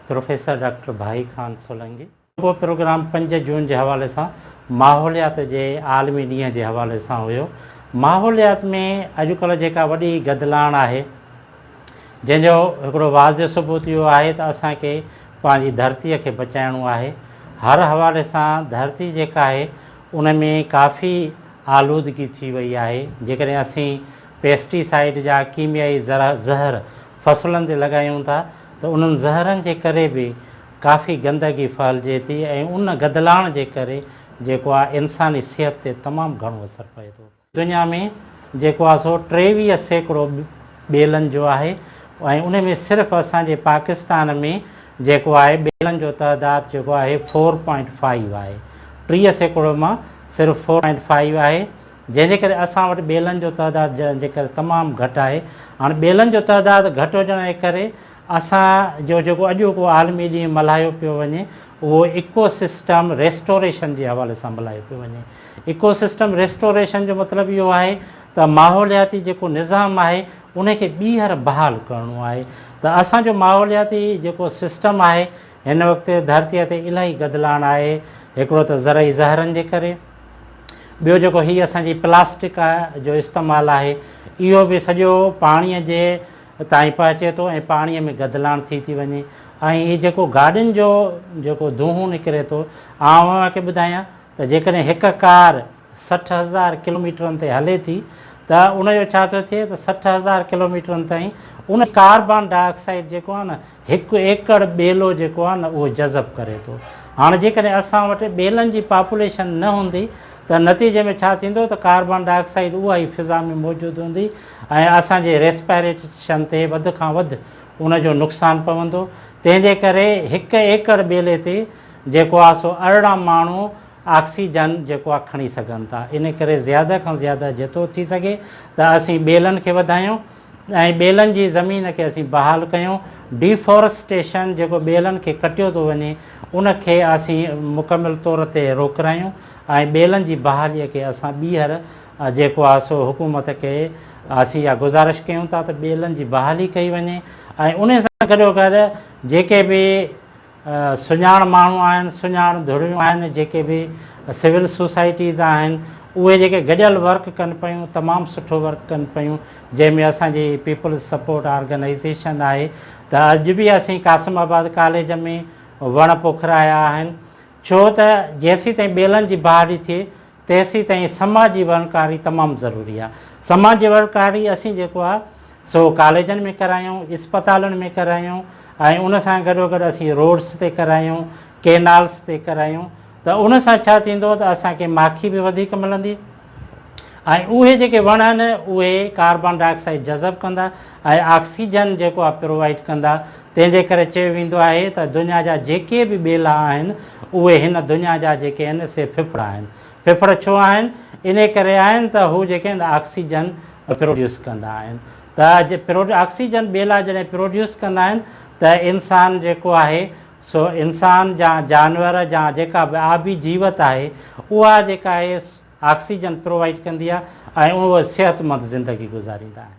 Professor doctor Bhai Khan Solangi. اهو programme پنج جون جي حوالي سان ماحوليات جي عالمي ڏينهن جي حوالي سان هيو. ماحوليات ۾ اڄڪلهه جيڪا وڏي گدلاڻ آهي جنهن جو هڪڙو واضح ثبوت اهو آهي ته اسان کي پنهنجي ڌرتي کي بچائڻو آهي. هر حوالي سان ڌرتي جيڪا آهي ان ۾ ڪافي آلودگي ٿي وئي آهي، جيڪڏهن اسين پيسٽي سائيڊ جا ڪيميائي زهر فصلن تي لڳايون ٿا ته انهن زهرن جي ڪري به ڪافي گندگي ڦهلجي ٿي ۽ ان گدلاڻ جي ڪري جيڪو آهي انساني صحت تي تمام گهڻو اثر پئي ٿو. دنيا ۾ جيڪو آهي سو ٽيويهه سيڪڙو ٻيلن جو آهي ۽ ان ۾ صرف اسان جي پاڪستان ۾ جيڪو آهي ٻيلن جو تعداد جيڪو آهي فور پوائنٽ فائيو آهي ٽيهه سيڪڙو مان صرف فور پوائنٽ فائيو آهي جنهن جي ڪري اسان وٽ ٻيلن جو تعداد جنهن جي ڪري تمام گهٽ آهي هاڻ ٻيلن جو تعداد گهٽ هجڻ جي ڪري اسان جو جيڪو اڄوڪو عالمي ڏينهن ملهايو پيو وڃي اهو ايڪو سسٽم ريسٽوريشن جي حوالي سان ملهايو پيو وڃي ايڪو سسٽم ريسٽوريشن جو مطلب اهو آهي ته ماحولياتي جيڪو نظام آهي ان کي ٻيهر بحال ڪرڻو آهي ته اسان جو ماحولياتي جيڪو سسٽم آهي هن وقت ڌرتيء تي الاهي گدلاڻ آهي، هڪڙو ته زرعي زهرن جي ڪري، ٻيو جيڪو هي اسان جي پلاسٽڪ جو استعمال آهي، اهو به سڄو پاڻيء جي تائين پهچي ٿو ۽ پاڻيء ۾ گدلاڻ ٿي ٿي وڃي ۽ هي جيڪو گاڏين جو جيڪو دونهون نڪري ٿو، آئون اوهان کي ٻڌايان ته جيڪڏهن هڪ ڪار سٺ هزار ڪلوميٽرن تي هلي ٿي ته ان جو ڇا ٿو ٿئي ته سٺ هزار ڪلوميٽرن تائين ان ڪاربان ڊاء آڪسائيڊ جيڪو آهي نه هڪ ايڪڙ ٻيلو جيڪو آهي نه اهو جذب ڪري ٿو. هاڻ جيڪڏهن اسان وٽ ٻيلن جي پاپوليشن نه هوندي ته نتيجي ۾ ڇا ٿيندو ته ڪاربان ڊاء آڪسائيڊ اها ئي فضا ۾ موجود هوندي ۽ اسان جي ريسپائريشن تي وڌ کان وڌ ان جو نقصان پوندو. تنهن جي ڪري هڪ ايڪڙ ٻيلي تي جيڪو آهي سو ارڙهن ماڻهو آڪسيجن جيڪو آهي کڻي سگهن ٿا. ان ڪري زياده کان زياده جيترو ٿي سگهي ته اسين ٻيلن کي وڌايون. ۽ ٻيلن جي زمين کي اسين بحال ڪيون، ڊي فورسٽيشن جيڪو ٻيلن کي ڪٽيو ٿو وڃي ان کي اسين مڪمل طور تي روڪرايون ۽ ٻيلن جي بحالي کي اسان ٻيهر جيڪو آهي سو حڪومت کي اسين اها گذارش ڪيون ٿا ته ٻيلن جي بحالي ڪئي وڃي ۽ انهي سان گڏوگڏ جيڪي به سڃاڻ ماڻهو آهن، سڃاڻ ڌريون آهن جيڪي به سول سوسائٽيز آهن اهي جيڪي گڏيل ورڪ ڪن پيون تمام سٺو ورڪ ڪن پيون جنهن ۾ اسان جي پيپلز سپورٽ آرگنائيزيشن آهي ته اڄ به اسين قاسم آباد ڪاليج ۾ وڻ پوکرايا آهن ڇو ته جيسين تائين ٻيلن جي بهاڙي ٿئي تيسين تائين سماجي وڻڪاري تمام ضروري آ. سماجي وڻڪاري اسين جيڪو آ سو ڪاليجن ۾ ڪرايون، اسپتالن ۾ ڪرايون ۽ ان سان گڏو گڏ اسين روڊس تي ڪرايون، ڪينالس تي ڪرايون ته ان سان ڇا ٿيندو ته اسان کي ماکي به وڌيڪ ملندي ۽ اهي جيڪي وڻ آهن اهي ڪاربان ڊاء آڪسائيڊ جذب ڪندا ۽ آڪسيجن جيڪو آ پرووائيڊ ڪندا تنهن جي ڪري چيو ويندو آهي ته دنيا جا جيڪي به ٻيلا آهن، اهي هن دنيا جا جيڪي آهن سي ڦڦڙ آهن. ڦڦڙ ڇو آهن؟ انهي ڪري آهن ته هو جيڪي آهن آڪسيجن پروڊيوس ڪندا آهن. ته آڪسيجن ٻيلا جڏهن پروڊيوس ڪندا آهن ته انسان جيڪو آهي سو انسان جا جانور جا جيڪا به آبي جيوت آهي اها جيڪا آهي آڪسيجن پرووائيڊ ڪندي آهي ۽ اهي صحتمند زندگي گذاريندا آهن.